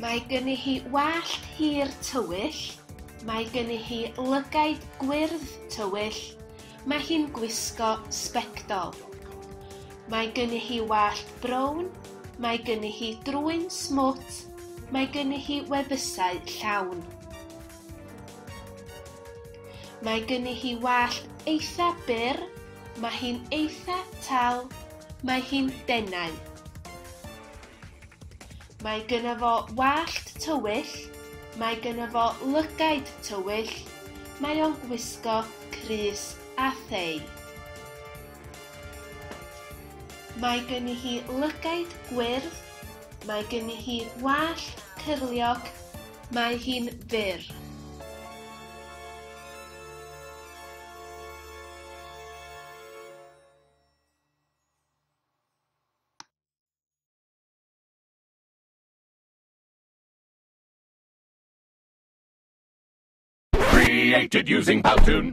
Mae gynnu hi wallt hir tywyll, mae gynnu hi lygaid gwyrdd tywyll, mae hi'n gwisgo sbectol. Mae gynnu hi wallt brown, mae gynnu hi drwyn smwt, mae gynnu hi wefusau llawn. Mae gen i hi wallt eitha byr, mae hi'n eitha tal, mae hi'n denau. Mae gyna fo wallt tywyll, mae gyna fo lygaid tywyll, mae o'n gwisgo crys a thei. Mae gen i hi lygaid gwyrdd, mae gen i hi wallt cyrliog, Mae hi'n fyr. Created using Powtoon.